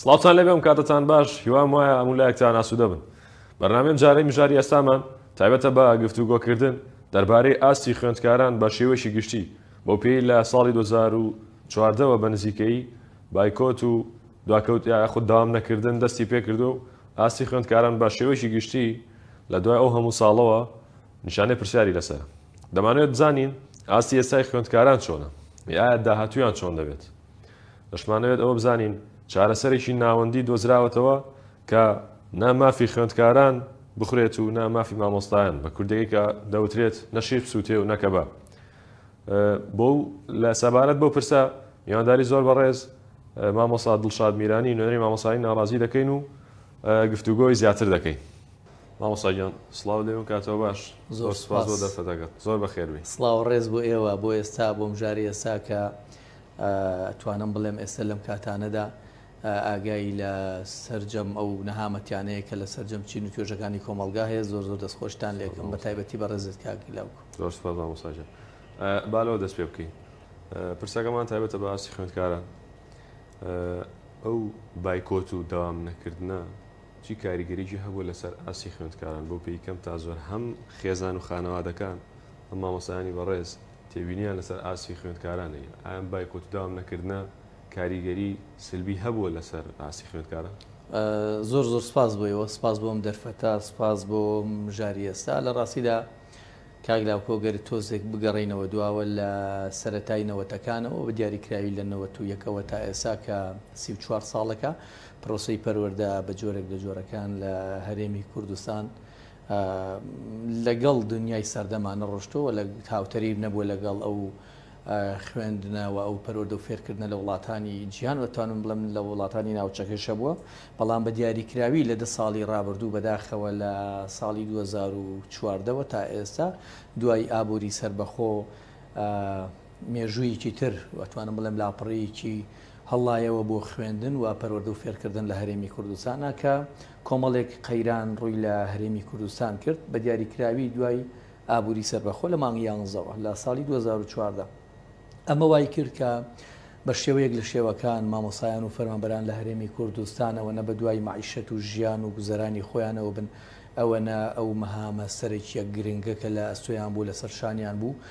سڵاوتان لێبێ و کاتتان باش هیوام وایە هەموو لایەکتان ئاسوودە بن بەرنامەی ئەمجارەی مژاری ئێستامان تایبەتە بە گفتوگۆکردن دەربارەی ئاستی خوێندکاران بە شێوەیەکی گشتی بۆ پێی لە ساڵی 2014 وە بە نزیکەیی بایکۆت و دواکەوت یاخود داوام نەکردن دەستی پێکردو و ئاستی خوێندکاران بە شێوەیەکی گشتی لە دوای ئەو هەموو ساڵەوە نیشانەی پرسیاری لەسەر دەمانوێت بزانین ئاستی ئێستای خوێندکاران چۆنە یاە داهاتویان چۆن دەبێت دەشمانەوێت ئەوە بزانین چارەسەرێکی ناوەندی دۆزراوەتەوە کە نا مافی خوێندکاران بخورێت و نا مافی مامۆستایان بە کوردەکە کە دەوترێت نەشیق سووتێ و نەکەبە بۆ لە سەبارەت بۆ پرسە میوانداری زۆر بەڕێز مامۆسا دڵشاد میرانی نوێنەری مامۆسایی ناڕازی دەکەین و گفتوگۆی زیاتر دەکەین مامۆساگیان سلااو لێ و کاتەوە باش زۆر سپاس بۆ دەرفەتەکەت زۆر بەخێربی سلااو ڕێز بۆ ئێوە بۆ ئێستا بۆم جاری ئێستا کە ئەتوانم بڵێم ئێستە لەم کاتانەدا ئاگای لە سەرجەم ئەو نەهامەتیانەیە کە لە سەرجەم چین و توێژەکانی کۆمەڵگا هەیە زۆر زۆر دەستخۆشتان لێکم بە تایبەتی بە ڕێزت کاگیلاوک زۆر سپاس مامۆساجان بالەوە دەست پێ بکەین پرسەکەمان تایبەتە بە ئاستی خوێندکاران ئەو بایکۆت و داوام نەکردە چی کاریگەریی هەبوو لەسەر ئاستی خوێندکاران بۆ پێی کەم تا زۆر هەم خێزان و خانەوادەکان ئەم مامۆسایانی بەڕێز تێبینیان لەسەر ئاستی خوێندکارانە ی ئەم بایکۆت و داوام نەکردنە کاریگەری سلبی هەبووە لەسەر ئاستی خوێندکاران؟ زۆر زۆر سپاس بۆ ئێوە، سپاس بۆ ئەم دەرفەتە، سپاس بۆ مژاری ئێستا، لە ڕاستیدا کاک لاوکۆ گەر تۆزێک بگەڕێینەوە دواوە لە سەرەتای نەوەتەکانەوە بە دیاریکراوی لە نەوەت و یەکەوە تا ئێسا کە سی و چوار ساڵەکە پرۆسەی پەروەردە بە جۆرێک لە جۆرەکان لە هەرێمی کوردستان لەگەڵ دونیای سەردەما نەڕۆشتووە و لە هاوتەریب نەبووە لەگەڵ ئەو خوێندنە و ئەو پەرۆدە و فێرکردنە لە وڵاتانی جیان وەتوانم بڵم لە وڵاتانی ناوچەکەی شەبووە بەڵام بە دیاریکراوی لە دە ساڵی ڕابردوو بەداخەوە لە ساڵی 2014ەوە تا ئێستا دوای ئابووری سربەخۆ مێژوویەکی تر ئەتوانم بڵێم لاپەڕەیەکی هەڵایەوە بۆ خوێندن و پەروەردە و فێرکردن لە هەرێمی کوردستانا کە کۆمەڵێک قەیران ڕووی لە هەرێمی کوردستان کرد بە دیاریکراوی دوای ئابووری سەربەخۆ لە مانگی یانزەوە لە ساڵی 2014 ئەمە وای کرد کە بە شێوەیەک لە شێوەکان مامۆسایان و فەرمانبەران لە هەرێمی کوردستانەوە نە بە دوای معیشەت و ژیان و گوزەرانی خۆیانەوە بن ئەوەنە ئەو مەهامە سەرەکیە گرنگە کە لە ئەستۆیان بوو لەسەر شانیان بوو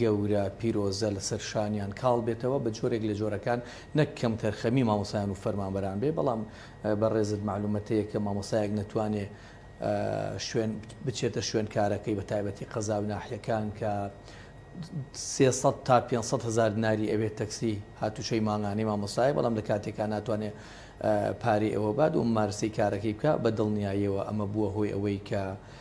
گەورە پیرۆزە لەسەر شانیان کاڵ بێتەوە بە جۆرێک لە جۆرەکان نەک کەم تەرخەمی مامۆستایان و فەرمانبەران بێ بەڵام بەڕێزت مەعلومەتەیە کە مامۆستایەک نەتوانێ شوێن بچێتە شوێن کارەکەی بە تایبەتی قەزا و ناحیەکان کە 300 تا 500 هزار دیناری ئەوێ تەکسی هاتوچەی مانگانەی مامۆسای بەڵام لە کاتێکا ناتوانێ پارەی ئەوە باد و مارسی کارەکەی بکە بە دڵنیاییەوە ئەمە بووە هۆی ئەوەی کە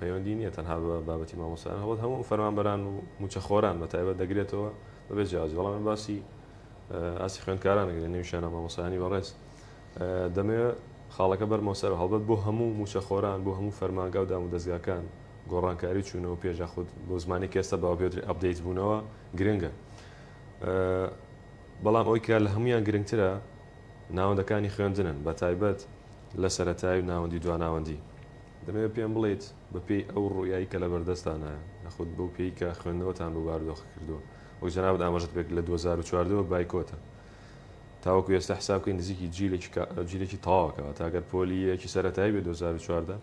پەیوەندی نیە تەنها بە بابەتی مامۆستایان هەڵبەت هەموو فەرمانبەران و موچە خۆران بە تایبەت دەگرێتەوە بەبێ جیاوازی بەڵام من باسی ئاسی خوێندکاران ئەگرێ نەویشانە مامۆستایانی بەڕێز دەمێ خاڵەکە بەرمەوە سەر هەڵبەت بۆ هەموو موچە خۆران بۆ هەموو فەرمانگا و دام و دەستگاکان گۆڕانکاری چوونەوە پێش خود بۆ زمانی کێستە باوە پێوتری ئەپدەیت بوونەوە گرنگە بەڵام ئەوی کە لە هەمویان گرنگترە ناوەندەکانی خوێندنن بە تایبەت لە سەتای و ناوەندی دواناوەندی دەمەوێت پێم بڵێیت بە پێی ئەو ڕوئیای کە لەبەر دەستتانایە، یاخود بەو پێی کە خوێندنەوەتان بۆ بارودۆخەکە کردووە، وەک جەنابت ئاماژەت پێکرد لە دوو هەزار و چواردە وە بایکۆتە، تاوەکو ئێستا حساب بکەین نزیکی جیلێکی تەواوە کەواتە ئەگەر پۆلی یەکی سەرەتایی بێت دوو هەزار و چواردە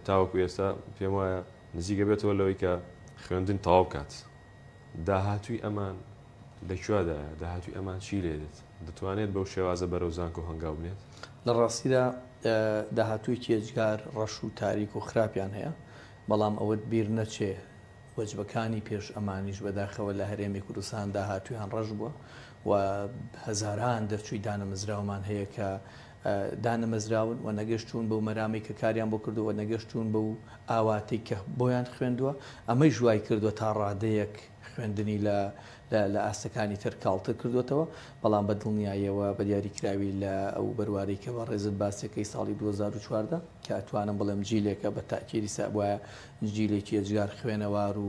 تاوەکو ئێستا پێم وایە نزیک ئەبێتەوە لەوەی کە خوێندن تەواو بکات. داهاتووی ئەمان لە کوادایە؟ داهاتووی ئەمان چی لێ دێت؟ دەتوانێت بەو شێوازە بەرەو زانکۆ هەنگاو بنێت؟ لە ڕاستیدا داهاتوویەکی ئێجگار ڕەش و تاریک و خراپیان هەیە، بەڵام ئەوەت بیر نەچێ وەجبەکانی پێش ئەمانیش بەداخەوە لە هەرێمی کوردستان داهاتوویان ڕەش بووە و هەزاران دەرچووی دانەمزراومان هەیە کە دانەمەزراون و نەگەشتوون بەو مەرامەی کە کاریان بۆ کردووە و نەگەشتوون بەو ئاواتەی کە بۆیان خوێندووە، ئەمەیش وایکردووە تا ڕادەیەک خوێندنی لە لە ئاستەکانی تر کاڵتر کردووەتەوە، بەڵام بە دڵنیاییەوە بە دیاریکراوی لە ئەو بەروارەی کە بەڕێزت باسیەکەی ساڵی دوو هەزار و چواردە کە ئەتوانم بڵێم جیلێکە بە تاکیدی سابوایە جیلێکی ئێجگار خوێنەوار و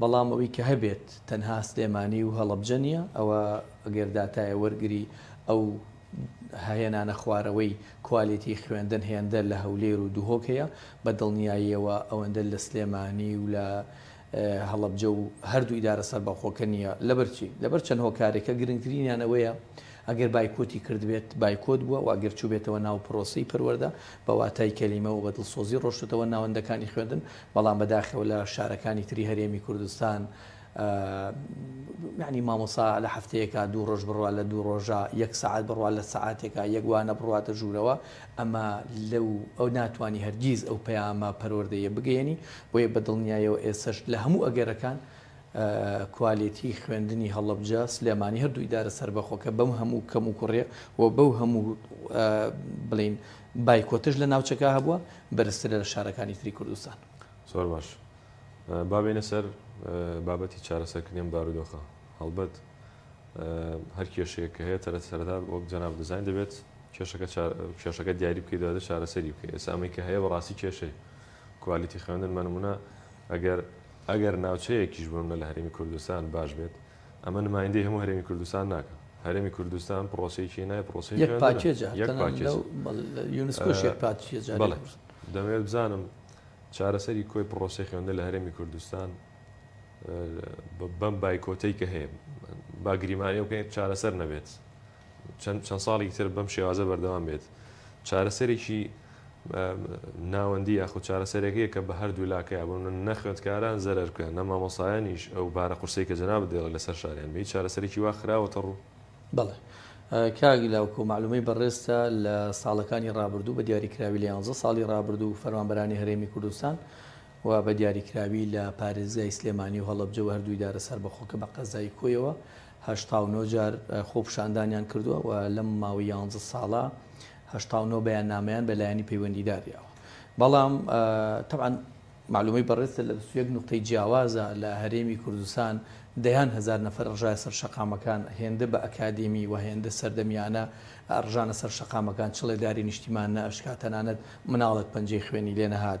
بەڵام ئەوی کە هەبێت تەنها سلێمانی و هەڵەبجە نیە، ئەوە گەر داتایە وەرگری ئەو ههێنانە خوارەوەی کوالێتی خوێندن هێندە لە هەولێر و دهۆک هەیە، بە دڵنیاییەوە ئەوەندە لە سلێمانی و لە هەڵەبجە و هەردوو ئیدارە سەربەخۆکە نیە، لەبەر چی؟ لەبەر چەند هۆکارێک کە گرنگترینیان ئەوەیە ئەگەر بایکۆتی کردبێت بایکۆت بووە و ئەگەر چووبێتەوە ناو پرۆسەی پەروەردە بە واتای کەلیمە و بە دڵسۆزی ڕۆشتۆتەوە ناوەندەکانی خوێندن، بەڵام بەداخەوە لە شارەکانی تری هەرێمی کوردستان یعنی مامۆسا لە هەفتەیەکە دوو ڕۆژ بڕوا لە دوو ڕۆژە یەک سعات بڕوا لە سعاتێکە یەکوانە بڕاتە ژوورەوە ئەمە لەو ئەو ناتوانانی هەرگیز ئەو پەیامە پەروەردەیە بگەێنی بۆیە بە دڵنیایەوە ئێسش لە هەموو ئەگەرەکان کوالێتی خوێندنی هەڵبجە سلێمانی هەردوو ئیدارە سربەخۆکە بەم هەموو کەم و کوڕێ و بەو هەموو بڵین بایکۆتش لە ناوچەکە هەبووە بەرزترە لە شارەکانی تری کوردستان. زۆر باش. با بێینە سەر بابەتی چارەسەرکردنی ئەم بارودۆخە. هەڵبەت هەر کێشەیەک کە هەیە تەرەت سەرەتا وەک جەنابت دەزانن دەبێت کێشەکە چا کێشەکە دیاری بکەی دواتر چارەسەری بکەی. ئێستا ئەمەی کە هەیە بەڕاستی کێشەیە. کوالیتی خوێندن بە نموونە ئەگەر ئەگەر ناوچەیەکیش بمنە لە هەرێمی کوردستان باش بێت ئەمە نمایندەی هەموو هەرێمی کوردستان ناکا. هەرێمی کوردستان پڕۆسەیەکی هێنایە، پڕۆسەی یەک خوێندنە. پاکێجە، یەک تەنانەت پاکێجە. لەو بەڵێ لە یونسکۆش یەک پاکێجە بەڵێ. لێبوردن. دەمەوێت بزانم چارەسەری کۆی پڕۆسەی خوێندن لە هەرێمی کوردستان بەم بایکۆتەی کە هەیە، با گریمانەی بکەین چارەسەر نەبێت. چەند چەند ساڵی تر بەم شێوازە بەردەوام بێت چارەسەرێکی ناوەندی یاخود چارەسەرێکەیە کە بە هەردوو لاکەیە بۆ نەخوێندکاران زەرەر بکەن نە مامۆسایانیش ئەو بارە قورسی کە جەناب دێڵە لەسەر شاریان بی چارەسەرێکی وا خراوەتە ڕوو بەڵێ کاگی لاوکۆ معلومەی بەڕێزتە لە ساڵەکانی ڕابردوو بە دیاریکراوی لە 11 ساڵی ڕابردوو فەرمانبەرانی هەرێمی کوردستان و بە دیاریکراوی لە پارێزگای سلێمانی و هەڵبجە و هەردووی دارە سەربەخۆکە بە قەزای کۆیەوە هەشتا و نۆ جار خۆپیشاندانیان کردووە و لەم ماوەی یانزە ساڵە هەشتا و نۆ بەیاننامەیان بە لایەنی پەیوەندیدار یاوە بەڵام تەبعەن معلومەی بەڕێزتە لە بیست و یەک نوقتەی جیاوازە لە هەرێمی کوردستان دەیان هەزار نەفەر ڕژایە سەر شەقامەکان هێندە بە ئەکادیمی و هێندە سەردەمیانە ڕژانە سەر شەقامەکان چڵێداری نیشتیمان نەئەشکا تەنانەت مناڵێک پەنجەی خوێنی لێ نەهات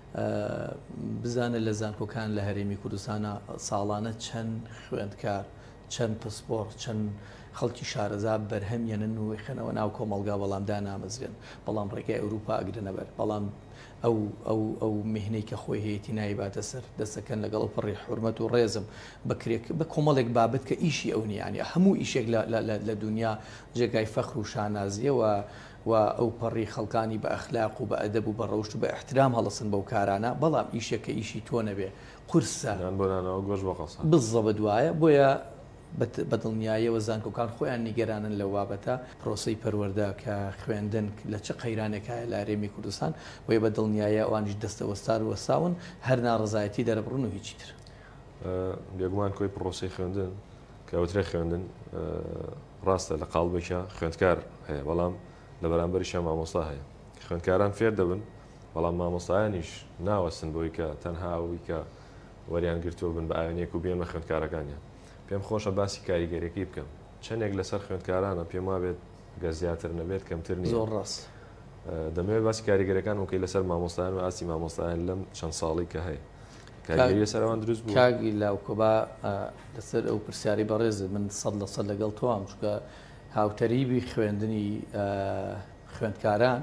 بزانە لە زانکۆکان لە هەرێمی کوردستانە ساڵانە چەند خوێندکار چەند پسپۆڕ چەند خەڵکی شارەزا بەرهەمیانن و خەنەوە ناو کۆمەلگا بەڵام دانامەزرێن بەڵام ڕێگای ئەوروپا ئەگرنەبەر بەڵام ئەو ئەو ئەو مهنەی کە خۆی هەیەی نایباتە سەر دەسەکەن لەگەڵ و پڕی حرمەت و ڕێزم بکرێت بە کۆمەڵێک بابەت کە ئیشی ئەو نیانی هەموو ئیشێک لە دنیا جێگای فەخر و شانازیەوە و ئەوپەڕی خەڵکانی بە ئەخلاق و بە ئەدەب و بە ڕەوشت و بە ئیحترام هەڵەسن بەو کارانە، بەڵام ئیشێک کە ئیشی تۆ نەبێ، قورسە. یان بۆ نانەوە گۆشت بە قەساب. بزەبت وایە، بۆیە بە دڵنیاییەوە زانکۆکان خۆیان نیگەرانن لەو بابەتە، پرۆسەی پەروەردە کە خوێندن لە چ قەیرانێک هایە لە هەرێمی کوردستان، بۆیە بە دڵنیاییە ئەوانیش دەستە وەستار و وەستاون هەر ناڕەزایەتی دەربڕن و هیچی تر. بێگومان کۆی پرۆسەی خوێندن، کە وترێ خوێندن ڕاستە لە قاڵبێکە خوێندکار هەیە بەڵام لە بەرامبەریشە مامۆستا هەیە خوێندکاران فێر دەبن بەڵام مامۆستایانیش ناوەستن بۆی کە تەنها ئەوی کە وەریان گرتووە بن بە ئاوێنێک و بێنمە خوێندکارەکانیان پێم خۆشە باسی کاریگەرەکەی بکەم چەندێک لەسەر خوێندکارانە پێم وابێت گە زیاتر نەبێت کەمتر نیە زۆر ڕاست دەمەوێت باسی کاریگەرەکان وکەی لەسەر مامۆستایان و ئاسی مامۆستایان لەم چەند ساڵی کە هەیە کاریگەری لەسەر ئەوان دروست بووە؟ کاک لاوکۆ با لەسەر ئەو پرسیارەی بەڕێزت من سەد لە سەد لەگەڵ تۆام، چونکە هاوتەریبی خوێندنی خوێندکاران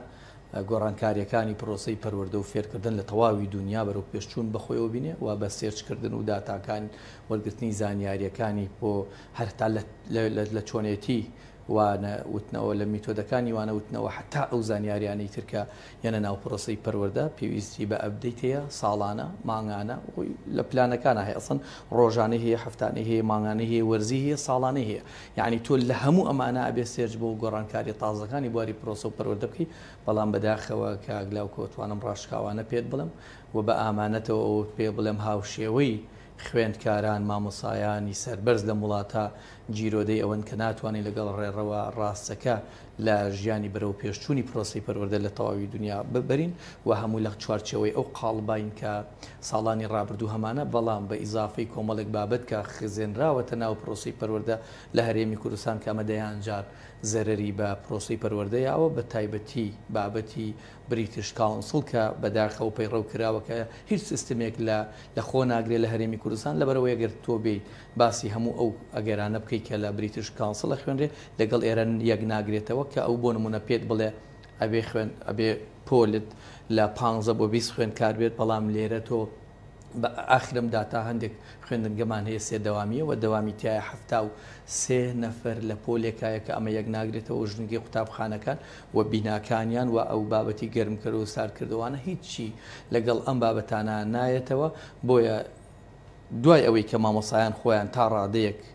گۆڕانکارییەکانی پرۆسەی پەروەردە و فێرکردن لە تەواوی دونیا بەرەو پێشچوون بە خۆیەوە بینێ و بە سێرچکردن و داتاکان وەرگرتنی زانیارییەکانی بۆ هەر هەتا لە چۆنێتی وانە وتنەوە، لە میتۆدەکانی وانە وتنەوە حەتا ئەو زانیاریانەی تر کە یەنە ناو پرۆسەی پەروەردە پێویستی بە ئەپدەیت هەیە، ساڵانە، مانگانە، خۆی لە پلانەکانا هەیە ئەسڵەن ڕۆژانەی هەیە، هەفتانەی هەیە، مانگانەی هەیە، وەرزی هەیە، ساڵانەی هەیە. یەعنی تۆ لە هەموو ئەمانە ئەبێ سێرچ بۆ گۆڕانکاریە تازەکانی بواری پرۆسە و پەروەردە بکەی، بەڵام بەداخەوە کاک لاوک ئەتوانم ڕاشکاوانە پێت بڵێم و بە ئامانەتەوە ئەوەت پێ بڵێم هاوشێوەی خوێندکاران، مامۆسایانی سەربەرز لەم وڵاتە گیرۆدەی ئەوەن کە ناتوانین لەگەڵ ڕێڕەوە ڕاستەکە لە ژیانی بەرەوپێشچوونی پرۆسەی پەروەردە لە تەواوی دونیا ببرین و هەموو لە چوارچێوەی ئەو قاڵباین کە ساڵانی ڕابردوو هەمانە بەڵام بە ئیزافەی کۆمەڵێک بابەت کە خزێنراوەتە ناو پرۆسەی پەروەردە لە هەرێمی کوردستان کە ئەمە دەیان جار زەرەری بە پرۆسەی پەروەردەیە و بە تایبەتی بابەتی بریتش کاونسڵ کە بەداخەوە پەیڕەو کراوە کە هیچ سیستمێک لە لە خۆ ناگرێت لە هەرێمی کوردستان لەبەرئەوەی ئەگەر تۆ بێیت باسی هەموو ئەو ئەگەرانە بکەیت کە لە بریتش کاونسڵ ئەخوێنرێ لەگەڵ ئێرە یەک ناگرێتەوە کە ئەو بۆ نموونە پێت بڵێ ئەبێ خوێن ئەبێ پۆلت لە پانزە بۆ بیست خوێندکار بێت بەڵام لێرە تۆ بە ئاخرم دا تا هەندێک خوێندنگەمان هەیە سێ دەوامیە وە دەوامی تایە حەفتا و سێ نەفەر لە پۆلێکایە کە ئەمە یەک ناگرێتەوە ژنگی قوتابخانەکان و بیناکانیان و ئەو بابەتی گەرمکەرو و ساردکردوانە هیچی لەگەڵ ئەم بابەتانە نایەتەوە بۆیە دوای ئەوەی کە مامۆسایان خۆیان تا ڕادەیەک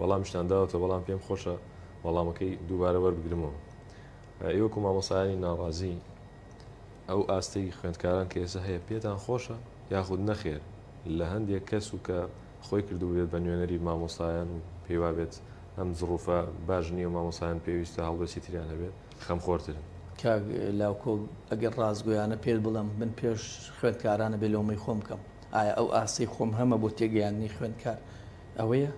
وەڵامیشتان داوەتەوە بەڵام پێم خۆشە وەڵامەکەی دووبارە وەربگرمەوە ئێ وەکو مامۆسایانی ناڕازی ئەو ئاستەی خوێندکاران کە ئێستا هەیە پێتان خۆشە یاخود نەخێر لە هەندێک کەس و کە خۆی کردوبێت بە نوێنەری مامۆسایان و پێیوابێت ئەم زڕوفە باش نییە مامۆسایان پێویستە هەڵوێستی تریان هەبێت خەمخۆرترن. کاک لاوکۆ ئەگەر ڕاستگۆیانە پێت بڵێم من پێش خوێندکارانە بێ لۆمەی خۆم بکەم ئایا ئەو ئاستەی خۆم هەمە بۆ تێگەیاندنی خوێندکار ئەوەیە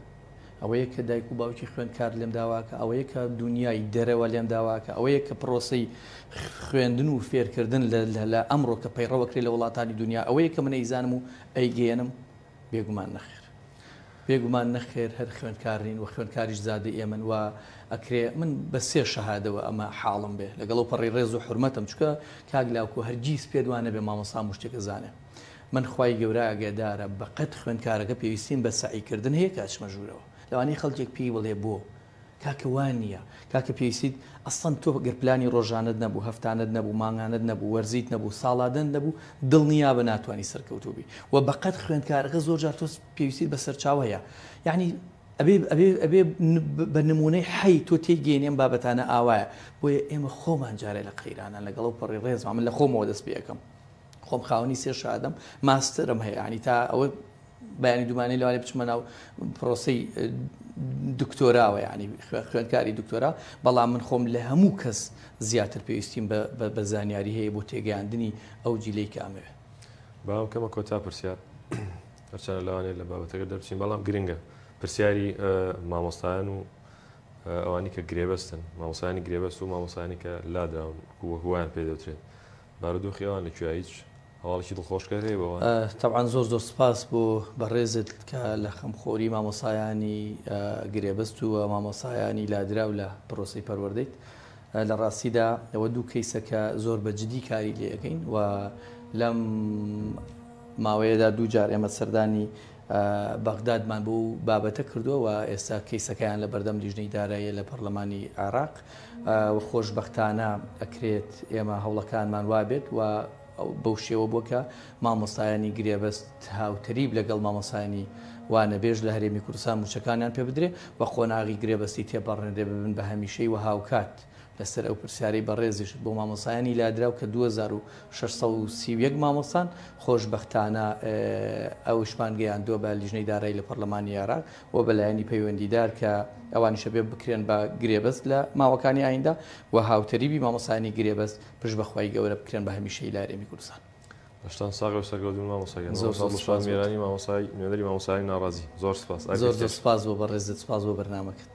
ئەوەیە کە دایک و باوکی خوێندکار لێم داواکە ئەوەیە کە دنیای دەرەوە لێم داواکە ئەوەیە کە پرۆسی خوێندن و فێرکردن لە ئەمڕۆ کە پەیڕەوەکری لە وڵاتانی دنیا ئەوەیە کە من ئەیزانم و ئەیگەێنم بێگومان نەخێر بێگومان نەخێر هەر خوێندکارین و خوێندکاریش زادە ئێمن وە ئەکرێ من بە سێ شەهادەوە ئەمە حاڵم بێ لەگەڵ و پەڕی ڕێز و حرمەتم چکە کاک لاوکو هەرگیز پێدوانە بێ مامۆسا مشتێکە زانێ من خوای گەورە ئاگەدارە بەقەد خوێندکارەکە پێویستیم بە سەعی کردن هەیە کە ئەچمە ژوورەوە لەوانەیە خەڵکێک پێی بڵێ بۆ کاکە وا نییە کاکە پێویستیت ئەسڵەن تۆ گەر پلانی ڕۆژانەت نەبوو هەفتانەت نەبوو مانگانەت نەبوو وەرزیت نەبوو ساڵادەنت نەبوو دڵنیابە ناتوانی سەرکەوتوو بی وە بەقەد خوێندکارەکە زۆر جار تۆ پێویستیت بە سەرچاوە هەیە یعنی ئەبێ ئەبێ ئەبێ بە نمونەی حەی تۆ تێی گەێنێ ئەم بابەتانە ئاوایە بۆیە ئێمە خۆمان جارێ لە قەیرانە لەگەڵ ئەو پەڕی ڕێزما من لە خۆمەوە دەست پێ ئەکەم خۆم خاوەنی سێ شادەم ماستەرم هەیە ینی تا ئەوە بەیانی دومانەی لەوانێ بچمە ناو پرۆسی دکتۆراوە ینی خوێندکاری دکتۆرا بەڵام من خۆم لە هەموو کەس زیاتر پێویستیم بە زانیاری هەیە بۆ تێگەیاندنی ئەو جیلەی کامەوێ باوم کەمە کۆتا پرسیار هەرچەنە لەوانێ لە بابەتەکە دەرچین بەڵام گرنگە پرسیاری مامۆستایان و ئەوانی کە گرێبەستن مامۆسانی گرێبەست و مامۆسانی کە لاداون هووان پێ دەوترێت بارودۆخی ئەوان لە کوێیە هیچ هەواڵێکی دڵخۆشکەر هەیە بۆ ئەوان؟ تەبعەن زۆر زۆر سپاس بۆ بەڕێزت کە لە خەمخۆری مامۆسایانی گرێبەست و مامۆسایانی لادراو لە پرۆسەی پەروەردەیت لە ڕاستیدا ئەوە دوو کەیسە کە زۆر بە جدی کاری لێ ئەکەین و لەم ماوەیەدا دوو جار ئێمە سەردانی بەغدادمان بەو بابەتە کردووە و ئێستا کەیسەکەیان لە بەردەم لیژنەی داراییە لە پەرلەمانی عێراق و خۆشبەختانە ئەکرێت ئێمە هەوڵەکانمان وابێت و بەو شێوە بووە کە مامۆستایانی گرێبەست هاوتەریب لەگەڵ مامۆستایانی وانەبێژ لە هەرێمی کوردستان موچەکانیان پێ بدرێ و قۆناغی گرێبەستی تێپەڕێنرێ ببن بە هەمیشەی و هاوکات لەسەر ئەو پرسیارەی بەڕێزیشت بۆ مامۆستایانی لادراو کە دوو هەزار و شەش سەد و سی و یەک مامۆستان، خۆشبەختانە ئەوەشمان گەیاندووە بە لیژنەی دارایی لە پەڕلەمانی عێراق و بە لایەنی پەیوەندیدار کە ئەوانیش ئەبێ بکرێن بە گرێبەست لە ماوەکانی ئایندە و هاوتەریبی مامۆستایانی گرێبەست پشت بە خوای گەورە بکرێن بە هەمیشەیی لە هەرێمی کوردستان. دەستان ساغ بێ و سەرکەوتوو بن مامۆستا گیان. زۆر زۆر سوپاس بۆت. مامۆستا دڵشاد میرانی مامۆستا نوێنەری مامۆستایانی ناڕازی. زۆر سوپاس. ئەرکە زۆر زۆر چێژ. سوپاس بۆ بەڕێزت، سوپاس بۆ بەرنامەکەت.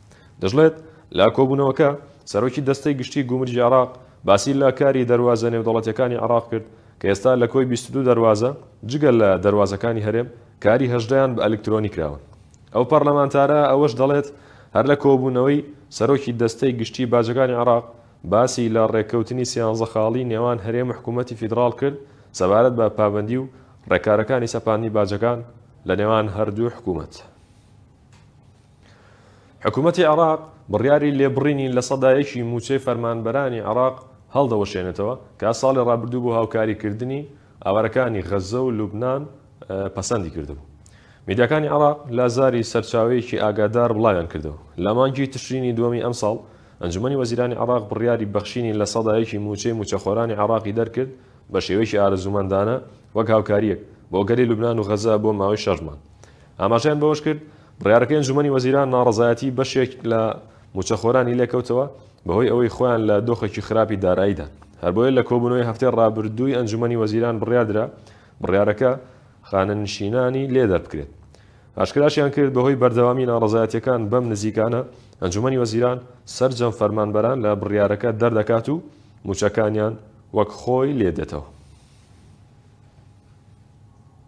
دەشڵێت، لە کۆبوونەوەکە، سەرۆکی دەستەی گشتیی گومرگی عێراق باسی لە کاری دەروازە نێودەوڵەتییەکانی عێراق کرد کە ئێستا لە کۆی بیست و دوو دەروازە، جگە لە دەروازەکانی هەرێم، کاری هەژدەیان بە ئەلکترۆنی کراوە. ئەو پەرلەمانتارە ئەوەش دەڵێت، هەر لە کۆبوونەوەی، سەرۆکی دەستەی گشتیی باجەکانی عێراق باسی لە رێککەوتنی سیانزە خاڵی نێوان هەرێم و حکوومەتی فیدراڵ کرد سەبارەت بە پابەندی و رێکارەکانی سەپاندنی باجەکان لە نێوان هەردوو حکوومەت. حکومەتی عێراق بڕیاری لێبڕینی لە سەدا یەکی مووچەی فەرمانبەرانی عێراق هەڵدەوەشێنێتەوە، کە ساڵی ڕابردوو بۆ هاوکاریکردنی ئاوارەکانی غەززە و لوبنان پەسەندی کردبوو. میدیاکانی عێراق لە زاری سەرچاوەیەکی ئاگادار بڵاویانکردەوە، لە مانگی تشرینی دووەمی ئەمساڵ ئەنجومەنی وەزیرانی عێراق بڕیاری بەخشینی لە سەدا یەکی مووچەی مووچەخۆرانی عێراقی دەرکرد بە شێوەیەکی ئارەزوومەندانە وەک هاوکارییەک بۆ گەلی لوبنان و غەززە بۆ ماوەی شەش مانگ. ئاماژەیان بەوەشکرد، بڕیارەکەی ئەنجوومەنی وەزیران ناڕەزایەتی بەشێک لە مووچەخۆرانی لێکەوتەوە، بەهۆی ئەوەی خۆیان لە دۆخێکی خراپی داراییدان، هەربۆیە لە کۆبوونەوەی هەفتەی رابردووی ئەنجوومەنی وەزیران بڕیاردرا بڕیارەکە خانەنشینانی لێ دەربکرێت. ئاشکراشیانکرد، بەهۆی بەردەوامی ناڕەزایەتییەکان بەم نزیکانە، ئەنجوومەنی وەزیران سەرجەم فەرمانبەران لە بڕیارەکە دەردەکات و مووچەکانیان وەک خۆی لێدێتەوە.